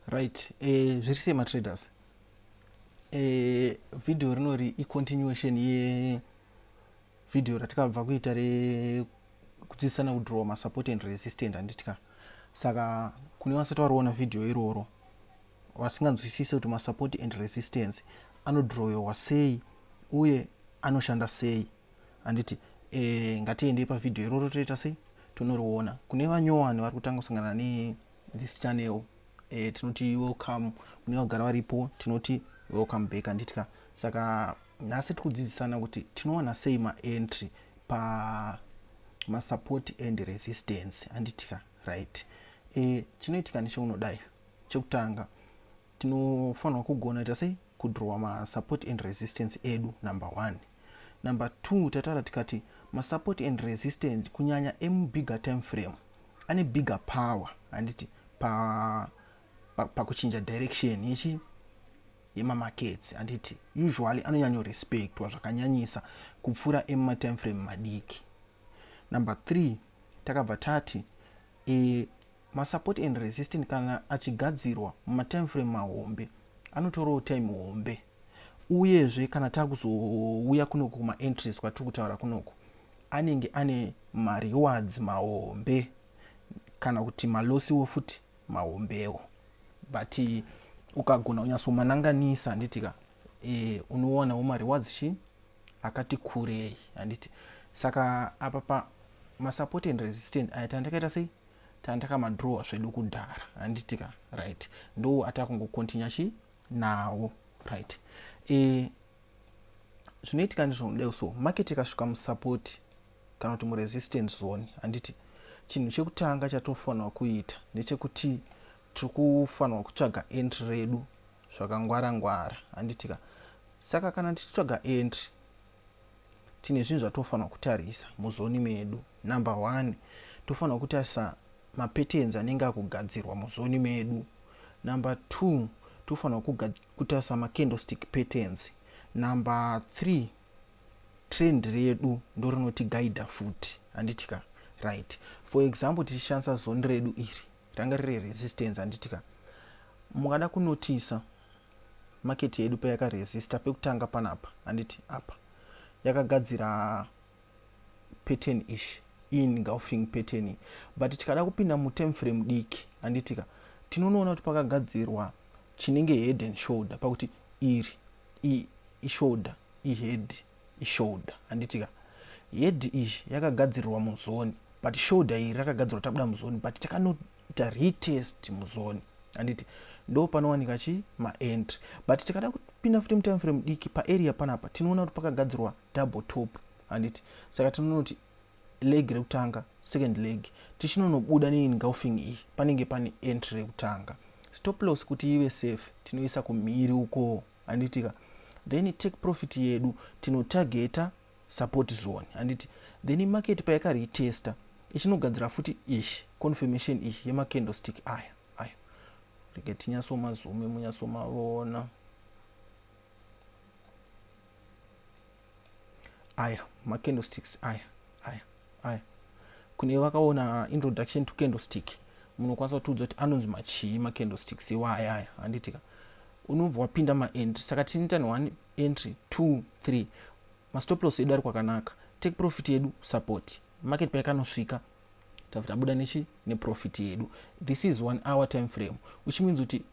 right eh, zviri sei matraders eh, video rinori icontinuation ye video ratikabva kuita re kudzidzisana kudraw masupport and resistant handitya saka kune vasati variona video iroro vasinganzwisise kuti masupport and resistance anodrawiwa sei uye anoshanda sei handiti e, ngatiendei pavhidhiyo iroro toita sei tonoriona kune vanyowani vari kutanga kusangana ne this channel e, tinoti welcome kune vagara varipo tinoti welcome back handitika saka nhasi tiri kudzidzisana kuti tinowana sei maentry pa masupport and resistance handitika right e, chinoitika necheunodai chekutanga tinofanirwa kugona ita sei kudrowa masupport and resistance edu number one number two tataura tikati masupport and resistance kunyanya emubigger time frame ane bigger power handiti pakuchinja pa, pa direction yechi yemamakets handiti usually anonyanyorespectwa zvakanyanyisa kupfuura emumatime frame madiki number three takabva tati e, Masupport and resistance kana achigadzirwa mumatimeframe mahombe anotorawo time hombe uyezve kana takuzouya kunoku kumaentries kwatiri kutaura kunoku anenge ane marewards mahombe kana kuti malosiwo futi mahombewo but ukagona unyatsomananganisa handiti ka e, unoonawo marewards chi akati kurei handiti saka apa pa masupport and resistant aya tandakaita sei tanga takamadrawa zvedu kudhara handiti ka right ndo atakungokontinya chi nawo right e, zvinoitika ndizvonodai so market ikasvika musupport kana kuti muresistance zone handiti chinhu chekutanga chatofanirwa kuita ndechekuti tiri kufanirwa kutsvaga entry redu zvakangwara ngwara handitika saka kana tichitsvaga entry tine zvinhu zvatofanira kutarisa muzoni medu number one tofanira kutarisa mapatterns anenge akugadzirwa muzoni medu number two tofanira kutarisa macandlestick patterns number three trend redu ndorinotigaida futi handitika right for example tichishandisa zoni redu iri ranga riri resistance handiti ka mukada kunotisa market yedu payakaresista pekutanga panapa handiti apa yakagadzira pattern ish ingulfing pattern but tikada kupinda mutem frame diki handiti ka tinonoona kuti pakagadzirwa chinenge head and shoulder pakuti iri ishoulder ihead ishoulder handiti ka head iyi yakagadzirirwa muzoni but shoulder iri rakagadzirwa tabuda muzoni but takanoita retest muzoni handiti ndo panowanika chi maentry but tikada kupinda futi mutime frame diki paarea panapa tinoona kuti pakagadzirwa double top handiti saka tinonoti leg rekutanga second leg tichinonobuda neengulfing iyi panenge pane entry rekutanga stop loss kuti ive safe tinoisa kumhiri ukoo handitika then take profit yedu tinotageta support zone handiti then market payakaretesta ichinogadzira futi ish confirmation ish yemacandlestick aya aya rege tinyasomazume munyasomaona aya macandlesticks aya aya aya kune vakaona introduction to candlestick munokwanisa kutiudza kuti anonzi machii macandlesticks iwa aya aya handitika unobva wapinda maentry saka tinoita neone entry two three mastoplos edu ari kwakanaka take profit yedu support market paikanosvika tabuda nechi neprofit yedu this is one hour time frame which means kuti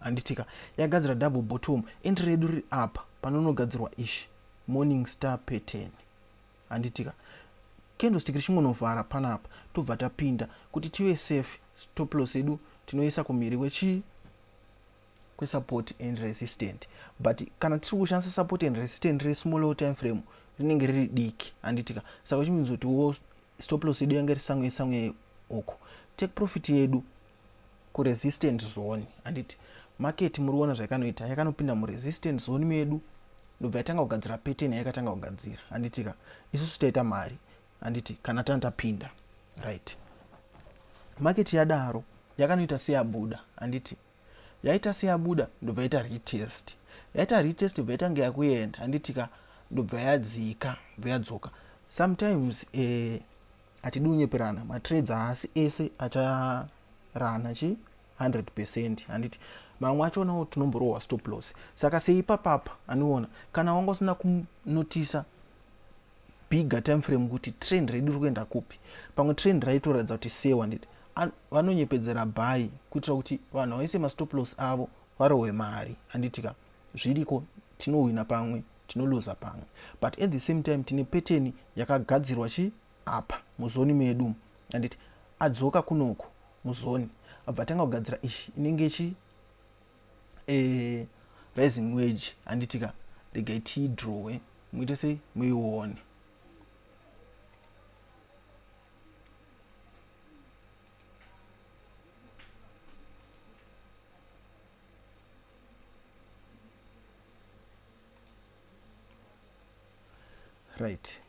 Handitika yagadzira double bottom entry redu riri apa panonogadzirwa ish morning star pattern handitika candlestick richingonovhara panapa tobva tapinda kuti tive safe stop loss edu tinoisa kumiri kwechii kwesupport and resistant but kana tiri kushandisa support and resistant resmall time frame rinenge riri diki handitika saka chimizoti wo stop loss yedu yange risange sange uku take profit yedu kuresistant zone handiti market muriona zvaikanoita yakanopinda muresistant zone medu ndobva yatanga kugadzira pattern yayakatanga kugadzira handitika isusu taita mari handiti kana tana tapinda right market yadaro yakanoita seyabuda handiti yaita seyabuda ndobva yaita retest yaita retest ndobva yatange yakuenda handitika ndobva yadzika ndobva yadzoka sometimes eh, hatidi kunyeperana matrades haasi ese acharana chi 100 percent handiti mamwe achonawo tinomborohwa stop loss saka seipapapa andiona kana wanga usina kunotisa bigger time frame kuti trend redu ri kuenda kupi pamwe trend raitoratidza kuti sewa nditi vanonyepedzera bhayi kuitira kuti vanhu vaise mastop loss avo varohwe mari handitika zviriko tinohwina pamwe tinoluza pamwe but at the same time tine peteni yakagadzirwa chi apa muzoni medu anditi adzoka kunoko muzoni abva atanga kugadzira ichi inenge chi e, rising wage anditika regai tiidrowe muite sei muione right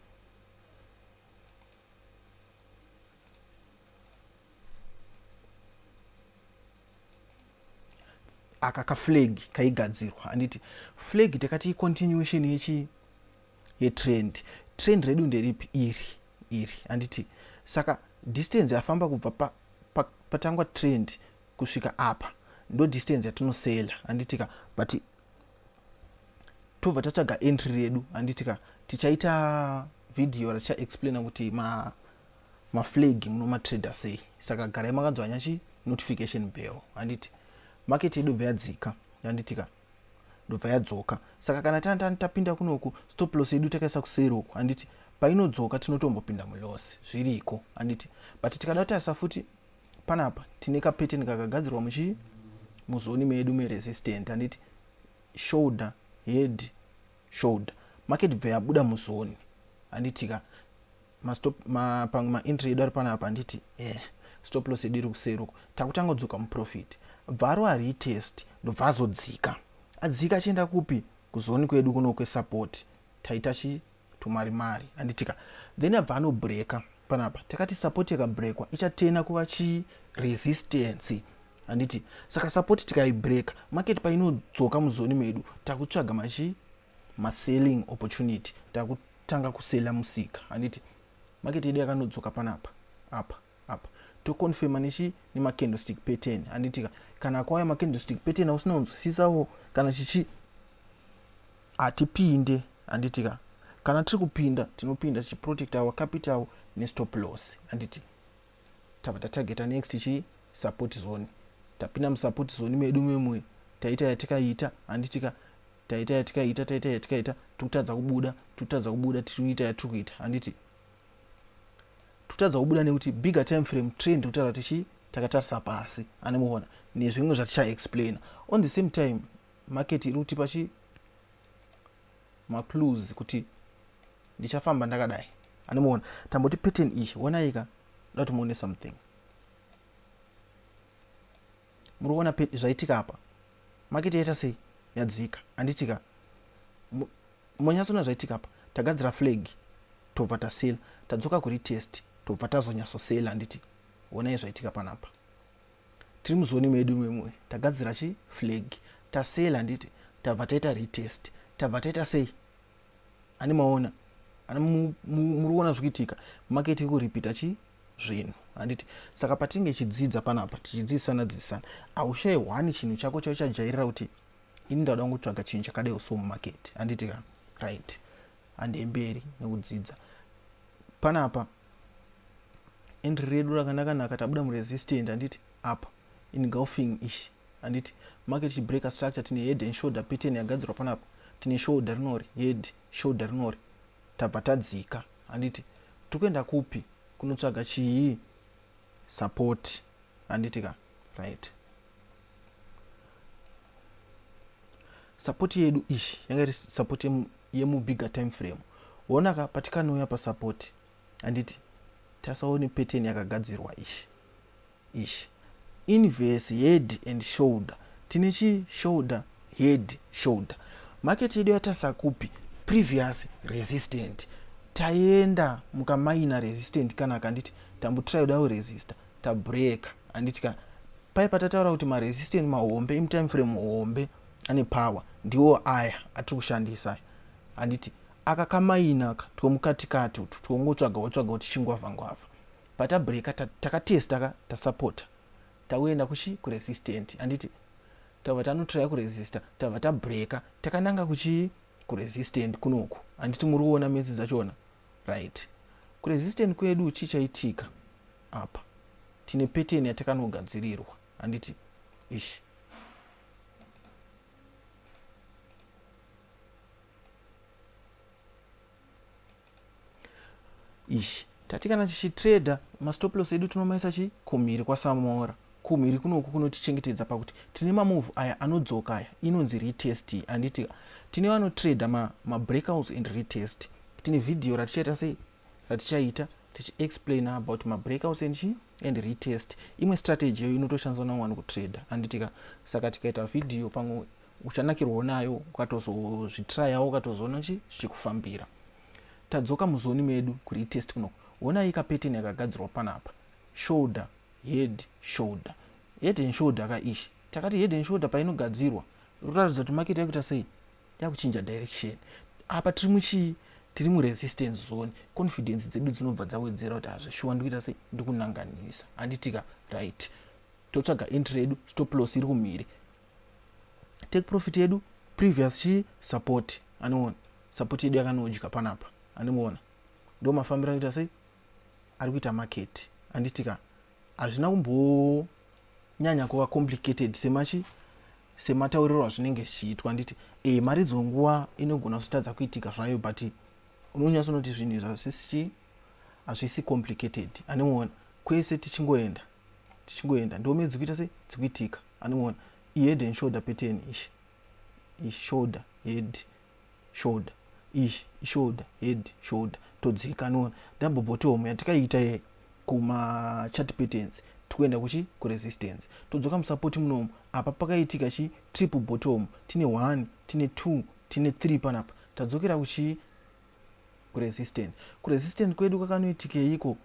aka kaflag kaigadzirwa handiti flag takati icontinuation yechi yetrend trend redu nderipi iri iri handiti saka distance yafamba kubva patangwa pa trend kusvika apa ndo distance yatinosela handitika but tobva tatsvaga entry redu handitika tichaita video raticha explaina kuti ma maflag muno matrader sei saka garai makanzwa nyachi notification bell handiti market yedu bva yadzika handitika ndobva yadzoka saka kana tantani tapinda kunoku stop loss yedu takaisa kuseri uku handiti painodzoka tinotombopinda muloss zviriko handiti but tikada kutarisa futi panapa tine kapeteni kakagadzirwa muchii muzoni medu meresistant handiti shoulder head shoulder market bva yabuda muzoni handitika pamwe maentry edu ari panapa handiti eh, stop loss edu iri kuseri uko takutanga kudzoka muprofit bvaro aritest ndobva azodzika adzika achienda kupi kuzoni kwedu kuno kwesupport taita chi tumari mari anditika then abva anobreaka panapa takati support yakabreakwa ichatena kuva chii resistance handiti saka support tikaibreaka market painodzoka muzoni medu takutsvaga machii maselling opportunity takutanga kusela musika handiti market yedu yakanodzoka panapa apa apa toconfirma nechi nemacandlestick pattern handitika kana akauya macandlestick pattern ausina kunzwisisawo kana chichi hatipinde handitika kana tiri kupinda tinopinda tichiprotect our capital nestop loss handiti tava tatargeta next chi support zone tapinda musupport zone medu memwe taita yatikaita handitika taita yatikaita taita yatikaita tikutadza kubuda tikutadza kubuda tiri kuita yatiri kuita handiti totadza kubuda nekuti bigger time frame trend kutaura tichi takatarisa pasi ane muona nezvimwe zvatichaexplaina on the same time market iri kutipa chi macluse kuti ndichafamba ndakadai ane muona tamboti pattern ichi wonaika ndoda kuti muone something muri kuona zvaitika apa maketi yaita sei yadzika handitika monyatsoona zvaitika apa tagadzira flag tobva tasela tadzoka kuri test tobva tazonyatsosela handiti onai zvaitika panapa tiri muzoni medu imwemwe tagadzira chi flag tasela handiti tabva taita retest tabva taita sei ani maona ani muri kuona zvikuitika maketi kuripita chi zvinhu handiti saka patinge chidzidza panapa tichidzidzisana dzidzisana aushaye hwani chinhu chako chao chajairira kuti ini ndauda kungotsvaga chinhu chakadai so mumaketi handiti ka right handei mberi nekudzidza panapa endri redu rakanakanaka tabuda muresistant handiti apa in golfing ishi handiti market chibreaker structure tine head and shoulder pattern yagadzirwa panapa tine shoulder rinori head shoulder rinori tabva tadzika handiti tikuenda kupi kunotsvaga chii support handiti ka right support yedu ishi yanga iri support yemubigger time frame ona ka patikanouya pasupport handiti tasaone pattern yakagadzirwa ishi Eish. Inverse head and shoulder tine chi shoulder head shoulder. Market yedu yatarisa kupi? Previous resistant. Taenda muka minor resistant kana akanditi tambotry kuda kuresista tabreaker handiti kana paye patataura kuti maresistant mahombe imtime frame hombe ane power ndiwo aya atiri kushandisa aya handiti aka kamaina ka twomukatikati utu twongotsvaga wotsvaga kuti chingwavha ngwavha Patabreaker ta, takatesta ka tasapota tauenda kuchi kuresistant handiti tava tanotraya kuresista tava tabreaker takananga kuchii kuresistant kunoku handiti muri kuona metsi dzachona right kuresistant kwedu chii chaitika apa tine pattern yatakanogadzirirwa handiti ishi ishi tati kana tichitrader mastop loss edu tinomaisa chi kumhiri kwasamora kumhiri kunoku kunotichengetedza pakuti tine mamove aya anodzoka aya inonzi retest handiti tine vanotrader mabreakouts ma and retest tine vhidhiyo ratichaita sei ratichaita tichiexplaina about mabreakouts and chi and retest imwe strategy iyo inotoshandiswa navanhu kutrader handitika saka tikaita vhidhiyo pamwe uchanakirwawo nayo ukatozozvitrayawo ukatozoona chi zvichikufambira tadzoka muzoni medu kuri itest kuno honai kapeteni yakagadzirwa panapa shoulder head shoulder head and shoulder ka ishi takati head and shoulder painogadzirwa rotaridza kuti maketi yakuita sei yakuchinja direction apa tiri muchii tiri muresistance zone confidence dzedu dzinobva dzawedzera kuti hazvishuwa ndikuita sei ndikunanganisa handitika right totsvaga entry yedu stop loss iri kumhiri take profit yedu previous chii support anoona support yedu yakanodya panapa andimuona ndo mafambiro anoita sei ari kuita market anditi ka hazvina kumbonyanya kuva complicated semachi sematauriro azvinenge zvichiitwa anditi e maridzo nguva inogona kuzotadza kuitika zvayo but unonyasa unoti zvinhu izvi hazvisi chii hazvisi complicated andimuona kwese tichingoenda tichingoenda ndome dzikuita sei dzikuitika anongoona ihead and shoulder pattern ishi ishoulder head shoulder ishi ishoulder head shoulder todzika anoona double bottom yatikaiita ye kumachat patterns tikuenda kuchi kuresistance todzoka musupport munomu apa pakaitika chi triple bottom tine one tine two tine three panapa tadzokera kuchi kuresistance kuresistance kwedu kwakanoitikeiko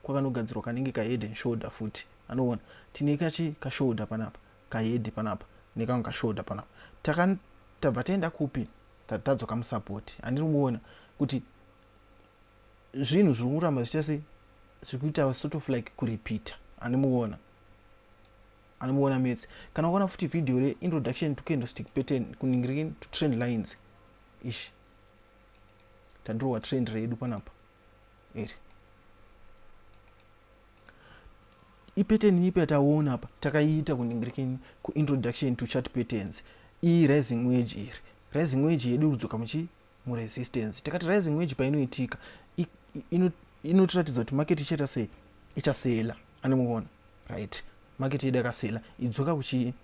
kwakanogadzirwa kanenge kahead and shoulder futi anoona tine kachi kashoulder panapa kahead panapa nekamwe kashoulder panapa taka tabva taenda kupi tadzoka musupport andiri kuona kuti zvinhu zviri kuramba zvichita sei zviri kuita sort of like kurepeater andimuona anomuona metse kana ukaona futi video reintroduction to candlestick pattern kuningirikini to trend lines ishi tadirowa trend redu panapa iri ipattern ipi yataona apa takaiita kuningirikeni kuintroduction to chart patterns iyi rising wage iri rising wage yedu kudzoka muchi muresistance takati rising wage painoitika inotiratidza kuti market ichaita sei ichasela anomuona right market yedu yakasela idzoka kuchi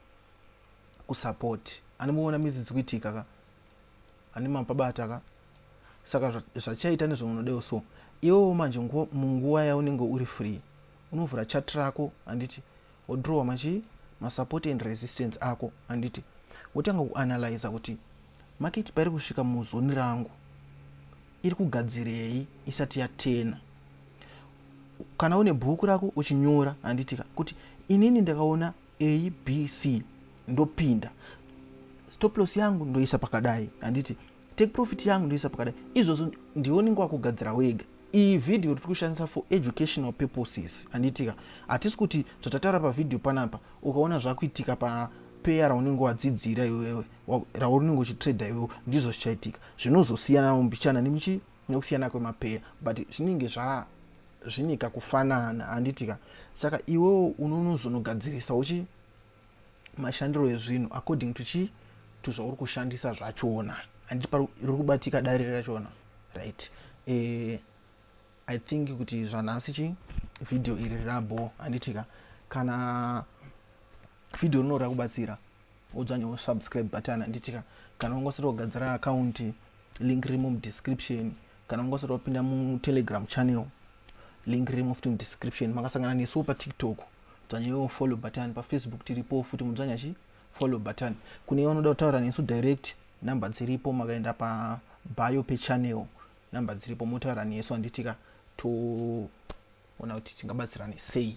kusupport anomuona mizidzi kuitika ka andima pabata ka saka zvachaita nezvaunodeo so iwewo manje munguva yaunenge uri free unovhura chat rako handiti wodrowa machii masupport and resistance ako handiti wotanga kuanalyza kuti maketi pairi kusvika muzoni rangu iri kugadzirei isati yatena kana une bhuku rako uchinyora handitika kuti inini ndakaona abc ndopinda stop loss yangu ndoisa pakadai handiti take profit yangu ndoisa pakadai izvozvo ndionenge wakugadzira wega iyi vhidhiyo tiri kushandisa for educational purposes handiitika hatisi kuti zvatataura pavhidhiyo panapa ukaona zvakuitika papeya raunenge wadzidzira iwewe raunenge uchitrader iwewe ndizvo zvichaitika zvinozosiyana mumbichana nemichi nekusiyana kwemapeya but zvinenge zva zvine kakufanana handiti ka saka iwewo unonozonogadzirisa uchi mashandiro ezvinhu according to chii to zvauri kushandisa zvachona handiti pari kubatika dare rachona right e, i think kuti zvanhasi chi vhidhiyo iri rabo handitika kana vhidhiyo rinoda kubatsira udzanyewo subscribe button handitika kana ungosati wagadzira akaunti link rimo mudescription kana ungosati wapinda mutelegram channel link rimo futi mudescription makasangana nesuwo patiktok dzanyewo follow button pafacebook tiripo futi mudzanya chi follow button kune vanoda kutaura nesu direct number dziripo makaenda pabio pechannel number dziripo motaura nesu handitika toona kuti tingabatsirane sei